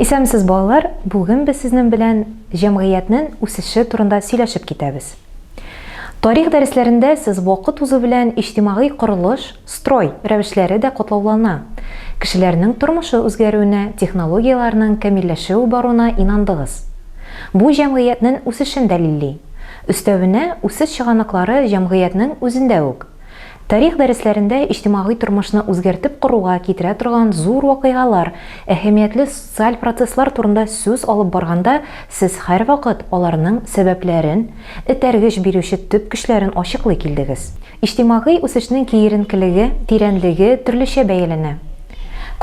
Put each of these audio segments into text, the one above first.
Исәнмесез балалар, бүген без сезнен белән җәмгыятьнен үсеше турында сөйләшеп китәбез. Тарих дәресләрендә сез вакыт узу белән иҗтимагый корылыш, строй, рәвешләре дә катлаулана, кешеләрнең тормышы үзгәрүенә, технологияләрнең камилләшеү баруына инандыгыз. Бу җәмгыятьнен үсешен дәлилли. Өстәвенә, үсеш чыганаклары җәмгыятьнең үзендә үк. Тарих дәресләрендә иҗтимагый тормышны үзгәртеп коруга китерә торган зур вакыйгалар, әһәмиятле социаль процесслар турында сүз алып барганда сез һәрвакыт аларның сәбәпләрен, этәргеч бирүче төп көчләрен ачыклый килдегез. Иҗтимагый үсешнең киеренкелеге, тирәнлеге төрлечә бәяләнә.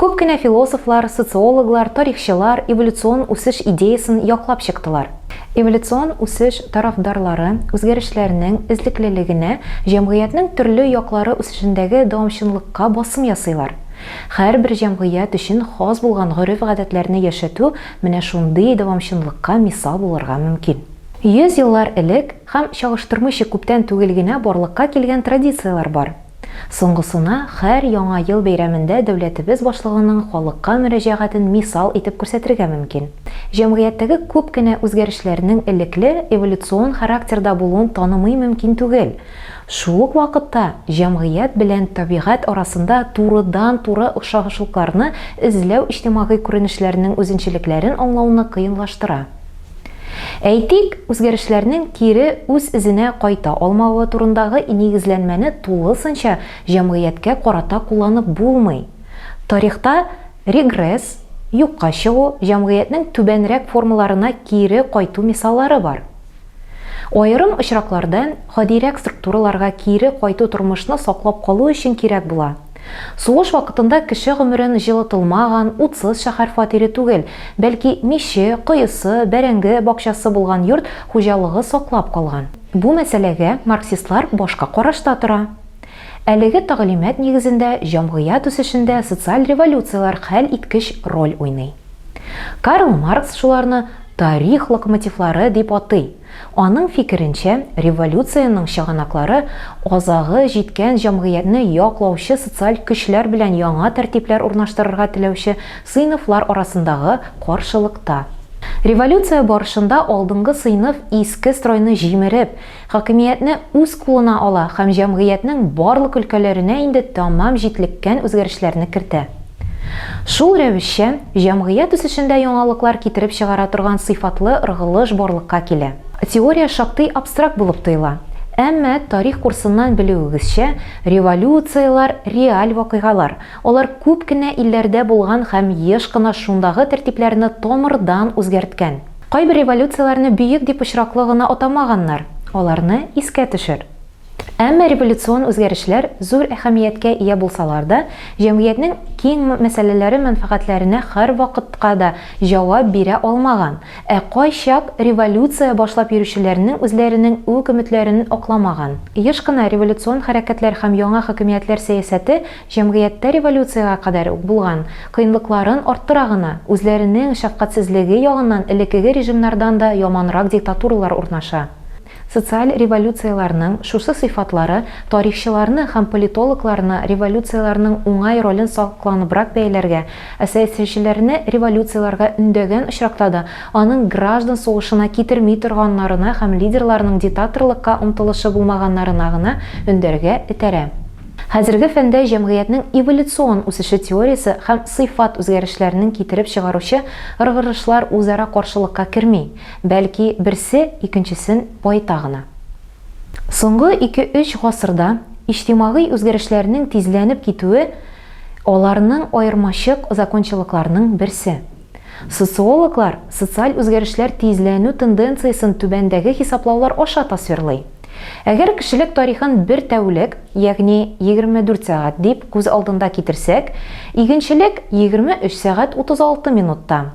Күп кенә философлар, социологлар, тарихчылар эволюцион үсеш идеясын яклап чыктылар. Эволюцион үсеш тарафдарлары үзгәрешләрнең эзлеклелегенә, җәмгыятьнең төрле яклары үсешендәге дәвамчанлыкка басым ясыйлар. Һәрбер җәмгыять өчен хас булган гореф-гадәтләрне яшәтү менә шундый дәвамчанлыкка мисал булырга мөмкин. Йөз еллар элек һәм чагыштырмыйча күптән түгел генә барлыкка килгән традицияләр бар. Соңгысына хәр Яңа ел бәйрәмендә дәүләтебез башлыгының халыкка мөрәҗәгатен мисал итеп күрсәтергә мөмкин. Җәмгыятьтәге күп кенә үзгәрешләрнең элекле эволюцион характерда булуын танымый мөмкин түгел. Шул ук вакытта җәмгыять белән табигать арасында турыдан-туры охшанышлыкларны эзләү иҗтимагый күренешләрнең үзенчәлекләрен аңлауны кыенлаштыра. Әйтик, үзгәрешләрнең кире үз эзенә кайта алмавы турындагы нигезләнмәне тулысынча җәмгыятькә карата кулланып булмый. Тарихта регресс, юкка чыгу, җәмгыятьнең түбәнрәк формаларына кире кайту мисаллары бар. Аерым очракларда гадирәк структураларга кире кайту тормышны саклап калу өчен кирәк була. Сугыш вакытында кеше гомерен җылытылмаган, утсыз шәһәр фатире түгел, бәлки миче, коесы, бәрәңге бакчасы булган йорт хуҗалыгы саклап калган. Бу мәсьәләгә марксистлар башка карашта тора. Әлеге тәгълимат нигезендә җәмгыять үсешендә социаль революцияләр хәл иткеч роль уйный. Карл Маркс шуларны тарих локомотивлары дип атый. Аның фикеренчә, революциянең чыганаклары азагы җиткән җәмгыятьне яклаучы социаль көчләр белән яңа тәртипләр урнаштырырга теләүче сыйныфлар арасындагы каршылыкта. Революция барышында алдынгы сыйныф иске стройны җимереп, хакимиятне үз кулына ала һәм җәмгыятьнең барлык өлкәләренә инде тәмам җитлеккән үзгәрешләрне кертә. Шул рәвешчә, җәмгыять үсешендә яңалыклар китереп чыгара торган сыйфатлы ыргылыш барлыкка килә. Теория шактый абстракт булып тоела, әмма, тарих курсыннан белүегезчә, революцияләр, реаль вакыйгалар, алар күп кенә илләрдә булган һәм еш кына шундагы тәртипләрне тамырдан үзгәрткән. Кайбер революцияләрне бөек дип очраклы гына атамаганнар, аларны искә төшер. Әмма революцион үзгәрешләр зур әһәмияткә ия булсалар да, җәмгыятьнең киң мәсьәләләре-мәнфәгатьләренә һәрвакытка да җавап бирә алмаган, ә кайчак революция башлап йөрүчеләрнең үзләренең үк өметләрен акламаган, еш кына революцион хәрәкәтләр һәм яңа хакимиятләр сәясәте җәмгыятьтә революциягә кадәр үк булган кыенлыкларын арттыра гына, үзләренең шәфкатьсезлеге ягыннан элеккеге режимнардан да яманрак диктатуралар урнаша. Социаль революцияләрнең шушы сыйфатлары тарихчыларны һәм политологларны революцияләрнең уңай ролен сакланыбрак бәяләргә, ә сәясәтчеләрне революцияләргә өндәгән очракта да, аның граждан сугышына китерми торганнарына һәм лидерларның дитаторлыкка омтылышы булмаганнарына гына өндәргә этәрә. Хәзерге фәндә җәмгыятьнең эволюцион үсеше теориясе һәм сыйфат үзгәрешләренең китереп чыгаручы ыргырышлар үзара каршылыкка керми. Бәлки, берсе икенчесен баета гына. Соңгы ике-өч гасырда иҗтимагый үзгәрешләрнең тизләнеп китүе, аларның аермачык закончалыкларның берсе. Социологлар социаль үзгәрешләр тизләнү тенденциясен түбәндәге хисаплаулар аша тасвирлый. Әгәр кешелек тарихын бер тәүлек, ягъни 24 сәгать дип күз алдында китерсәк, игенчелек, 23 сәгать 36 минутта,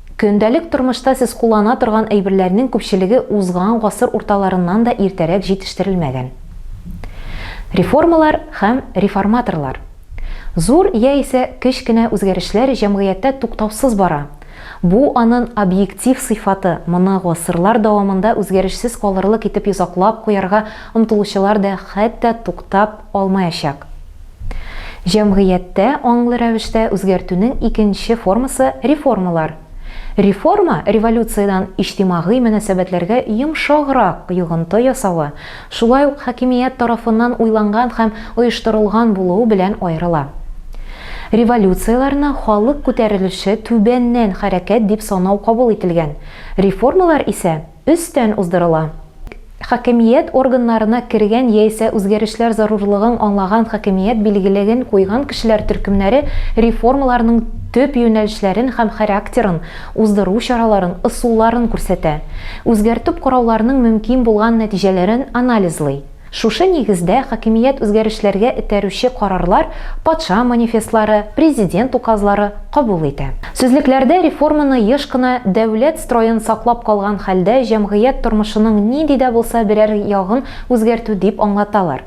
Көндәлек тормышта сез куллана торган әйберләрнең күпчелеге узган гасыр урталарыннан да иртәрәк җитештерелмәгән. Реформалар һәм реформаторлар. Зур яисә кеч кенә үзгәрешләр җәмгыятьтә туктаусыз бара. Бу анын объектив сыйфаты, моны гасырлар дәвамында үзгәрешсез калырлык итеп йозаклап куярга омтылучылар да хәтта туктап, алмаячак. Җәмгыятьтә аңлы рәвештә үзгәртүнең икенче формасы, реформалар. Реформа, революциядән иҗтимагый мөнәсәбәтләргә йомшаграк йогынты ясавы, шулай ук хакимият тарафыннан уйланган һәм оештырылган булуы белән аерыла. Революцияләрне халык күтәрелеше түбәннән хәрәкәт дип санау кабул ителгән, реформалар исә, Өстән уздырыла. Хакимият органнарына кергән яисә үзгәрешләр зарурлыгын аңлаган хакимият билгелеген куйган кешеләр төркемнәре реформаларның төп юнәлешләрен һәм характерын, уздыру чараларын, ысулларын күрсәтә. Үзгәртеп карауларның мөмкин булган нәтиҗәләрен анализлый. Шушы нигездә хакимият үзгәрешләргә этәрүче карарлар патша манифестлары, президент указлары кабул итә. Сүзлекләрдә реформаны еш кына дәүләт строен саклап калган хәлдә җәмгыять тормышының нинди дә булса берәр ягын үзгәртү дип аңлаталар.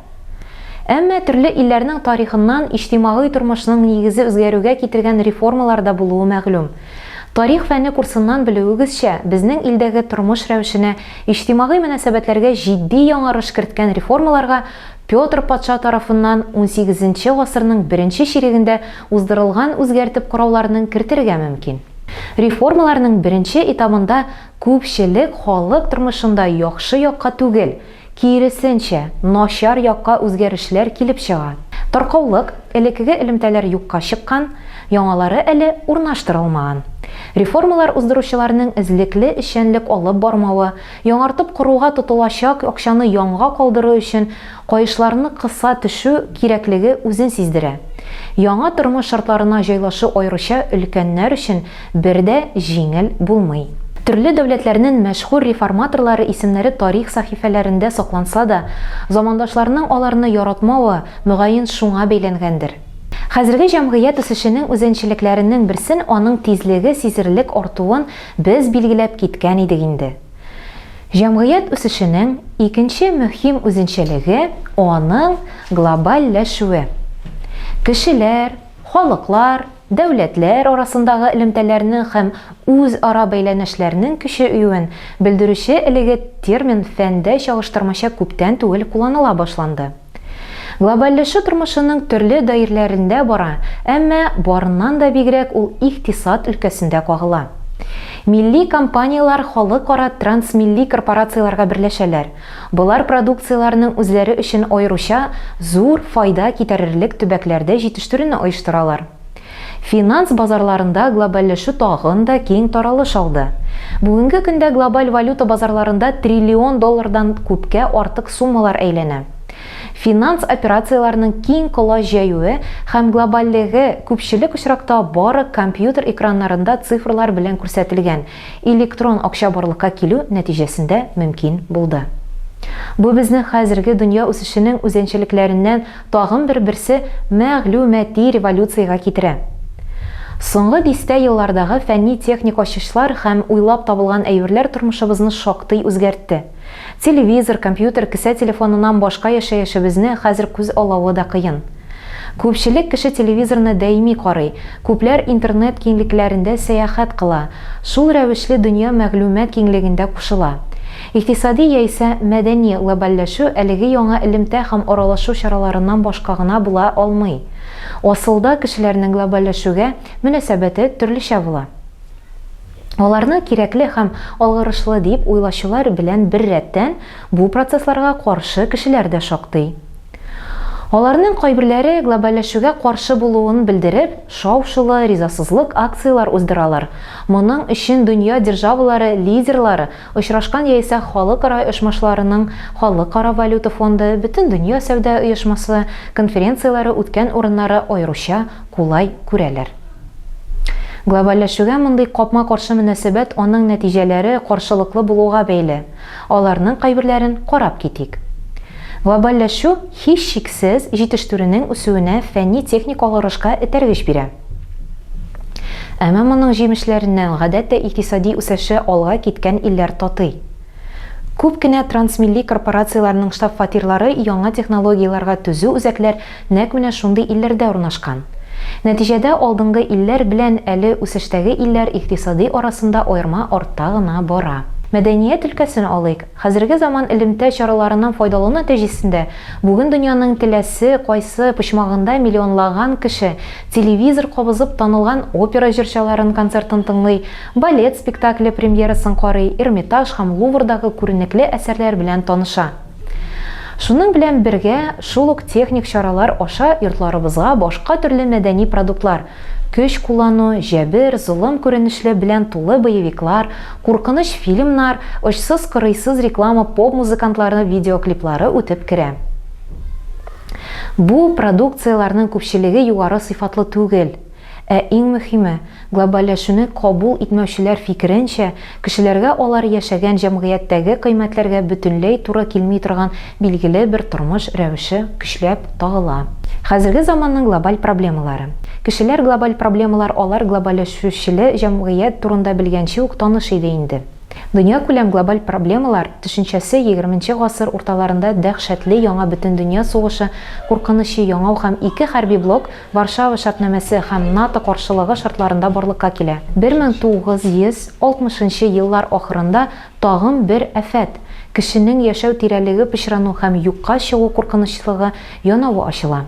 Әмма төрле илләрнең тарихыннан иҗтимагый тормышның нигезе үзгәрүгә китергән реформалар да булуы мәгълүм. Тарих фәне курсыннан белүегезчә, безнең илдәге тормыш рәвешенә Иҗтимагый мөнәсәбәтләргә җитди яңарыш керткән реформаларга Петр патша тарафыннан унсигезенче гасырның беренче чирегендә уздырылган үзгәртеп карауларның кертергә мөмкин. Реформаларның беренче этабында күпчелек халык тормышында яхшы якка түгел, киресенчә, начар якка үзгәрешләр килеп чыга. Таркаулык, элекеге элемтәләр юкка чыккан, Яңалары әле урнаштырылмаган. Реформалар уздыручыларның эзлекле эшчәнлек алып бармавы, яңартып коруга тотылачак акчаны янга калдыру өчен каешларны кыса төшү кирәклеге үзен сиздерә. Яңа тормыш шартларына җайлашу аеруча өлкәннәр өчен бер дә җиңел булмый. Төрле дәүләтләрнен мәшһүр реформаторлары исемнәре тарих сәхифәләрендә сакланса да, замандашларның аларны яратмавы, мөгаен, шуңа бәйләнгәндер. Хәзерге җәмгыять үсешенең үзенчелекләренең берсен аның тизлеге сизелерлек артуын без билгеләп киткән идек инде. Җәмгыять үсешенең икенче мөһим үзенчәлеге, аның глобальләшүе. Кешеләр, халыклар, дәүләтләр арасындагы элемтәләрнең һәм үзара бәйләнешләрнең көчәюен белдерүче элеге термин фәндә чагыштырмача күптән түгел кулланыла башланды. Глобальләшү тормышының төрле даирләрендә бара, әмма барыннан да бигрәк ул икътисад өлкәсендә кагыла. Милли компанияләр халыкара трансмилли корпорацияләргә берләшәләр, болар продукцияләренең үзләре өчен аеруча зур файда китәрерлек төбәкләрдә җитештерүне оештыралар. Финанс базарларында глобальләшү тагын да киң таралыш алды. Бүгенге көндә глобаль валюта базарларында триллион доллардан күпкә артык суммалар әйләнә. Финанс операцияләренең киң колач җәюе һәм глобальлеге күпчелек очракта бары компьютер экраннарында цифрлар белән күрсәтелгән, электрон акча барлыкка килү нәтиҗәсендә мөмкин булды. Бу безне хәзерге дөнья үсешенең үзенчәлекләреннән тагын бер берсе мәгълүмати революциягә китерә. Соңгы дистә еллардагы фәнни-техник ачышлар һәм уйлап табылган әйберләр тормышыбызны шактый үзгәртте. Телевизор, компьютер, кесә телефоныннан башка яшәешебезне хәзер күз алавы да кыен. Күпчелек кеше телевизорны даими карый, күпләр интернет киңлекләрендә сәяхәт кыла, шул рәвешле дөнья мәгълүмат киңлегендә кушыла. Икътисади яисә мәдәни глобальләшү әлеге яңа элемтә һәм аралашу чараларыннан башка гына була алмый. Асылда кешеләрнең глобальләшүгә мөнәсәбәте төрлечә була. Аларны кирәкле һәм алгарышлы дип уйлаучылар белән беррәттән, бу процессларга каршы кешеләр дә шактый. Аларның кайберләре глобальләшүгә каршы булуын белдереп, шау-шулы, ризасызлык акцияләр уздыралар, моның өчен дөнья державалары лидерлары очрашкан яисә халыкара оешмашыларының Халыкара валюта фонды, Бөтендөнья сәүдә оешмасы конференцияләре үткән урыннары аеруча кулай күрәләр. Глобальләшүгә мондый капма-каршы мөнәсәбәт аның нәтиҗәләре каршылыклы булуга бәйле. Аларның кайберләрен карап китик. Глобальләшү, һичшиксез, җитештерүнең үсүенә фәнни-техник алгарышка этәргеч бирә. Әмма моның җимешләреннән, гадәттә, икътисади үсеше алга киткән илләр татый. Күп кенә трансмилли корпорацияләрнең штаб-фатирлары яңа технологияләргә төзү үзәкләр нәкъ менә шундый илләрдә урнашкан. Нәтиҗәдә алдынгы илләр белән әле үсештәге илләр икътисади арасында аерма артта гына бара. Мәдәният өлкәсен алыйк. Хәзерге заман элемтә чараларыннан файдалану нәтиҗәсендә бүген дөньяның теләсе кайсы почмагында миллионлаган кеше телевизор кабызып танылган опера җырчыларын концертын тыңлый, балет спектакле премьерасын карый, Эрмитаж һәм Луврдагы күренекле әсәрләр белән таныша. Шуның белән бергә, шул ук техник чаралар аша йортларыбызга башка төрле мәдәни продуктлар, көч куллану, җәбер, золым күренешле белән тулы боевиклар, куркыныч фильмнар, очсыз-кырыйсыз реклама поп-музыкантлары видеоклиплары үтеп керә. Бу продукцияләрнең күпчелеге югары сыйфатлы түгел. Ә иң мөһиме, глобальләшүне кабул итмәүчеләр фикеренчә, кешеләргә алар яшәгән җәмгыятьтәге кыйммәтләргә бөтенләй туры килми торган билгеле бер тормыш рәвеше көчләп тагыла. Хәзерге заманның глобаль проблемалары. Кешеләр глобаль проблемалар алар глобальләшүчеле җәмгыять турында белгәнче үк таныш иде инде. Дөньякүләм глобаль проблемалар төшенчәсе егерменче гасыр урталарында дәһшәтле яңа бөтендөнья сугышы куркынычы яңау һәм ике хәрби блок Варшава шартнамәсе һәм НАТО каршылыгы шартларында барлыкка килә. 1960 нчы еллар ахырында тагын бер афәт, кешенең яшәү тирәлеге пычрану һәм юкка чыгу куркынычлыгы янавы ачыла.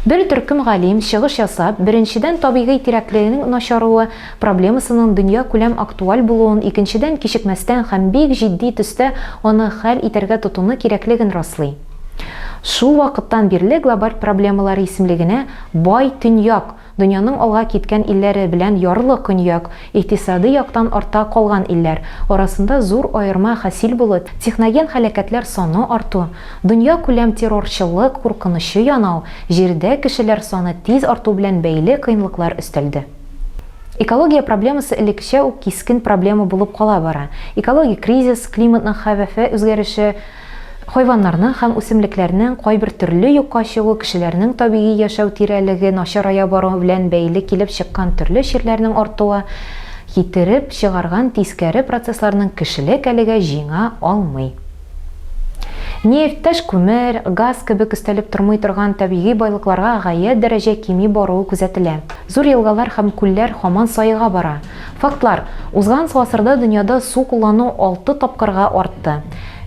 Бер төркем галим, чыгыш ясап, беренчедән табигый тирәкленең начаруы проблемасының дөньякүләм актуаль булуын, икенчедән кичекмәстән һәм бик җитди төстә аны хәл итәргә тотыну кирәклеген раслый. Шул вакыттан бирле глобаль проблемалар исемлегенә бай Төньяк, дөньяның алга киткән илләре, белән ярлы Көньяк, икътисади яктан артта калган илләр, арасында зур аерма хасил булып, техноген һәлакәтләр саны арту, дөньякүләм террорчылык куркынычы янау, Җирдә кешеләр саны тиз арту белән бәйле кыенлыклар өстәлде. Экология проблемасы элеккечә үк кискен проблема булып кала бара. Экологик кризис, климатның хәвефе үзгәреше, Хайваннарның һәм үсемлекләрнең кайбер төрле юкка чыгу кешеләрнең табигый яшәү тирәлеге начарая баруы белән бәйле килеп чыккан төрле чирләрнең артуы китереп чыгарган тискәре процессларның кешелек әлегә җиңә алмый. Нефть, таш күмер, газ кебек өстәлеп тормый торган табигый байлыкларга гаять дәрәҗә кими баруы күзәтелә. Зур елгалар һәм күлләр һаман саега бара. Фактлар, узган гасырда дөньяда су куллану алты тапкырга артты.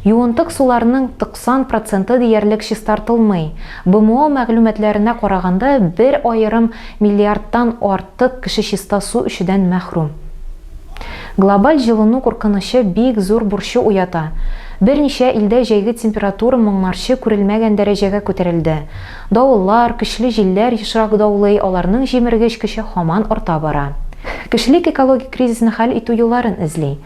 Юынтык суларының 90 проценты диярлек чистартылмый. БМО мәгълүматларына караганда, бер аерым миллиардтан артык кеше чиста су эчүдән мәхрүм. Глобаль җылыну куркынычы бик зур борчу уята. Берничә илдә җәйге температура моңарчы күрелмәгән дәрәҗәгә күтәрелде. Давыллар, көчле җилләр ешрак даулый, аларның җимергеч көче һаман арта бара. Кешелек экологик кризисны хәл итү юлларын эзли.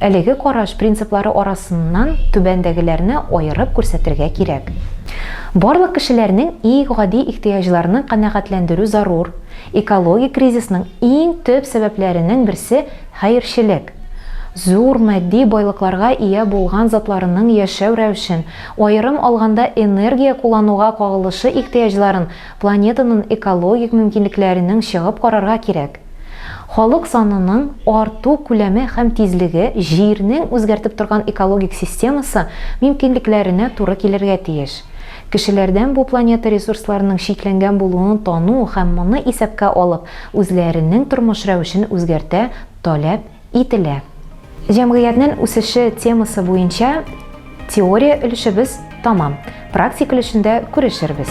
Әлеге караш принциплары арасыннан түбәндәгеләрне аерып күрсәтергә кирәк. Барлык кешеләрнең и гади ихтыяҗларның канәгатьләндерү зарур, экологик кризисның иң төп сәбәпләренең берсе хәерчелек. Зур матди байлыкларга ия булган затларының яшәү рәвешен, аерым алганда энергия куллануга кагылышы ихтыяҗларын планетанын экологик мөмкинлекләренең чыгып карарга кирәк. Халык санының арту күләме һәм тизлеге Җирнең үзгәртеп торган экологик системасы мөмкинлекләренә туры килергә тиеш. Кешеләрдән бу планета ресурсларының чикләнгән булуын тану һәм моны исәпкә алып, үзләренең тормыш рәвешен үзгәртә таләп Ителә. Җәмгыятьнен үсеше темасы буенча теория өлешебез тәмам, практик өлешендә күрешербез.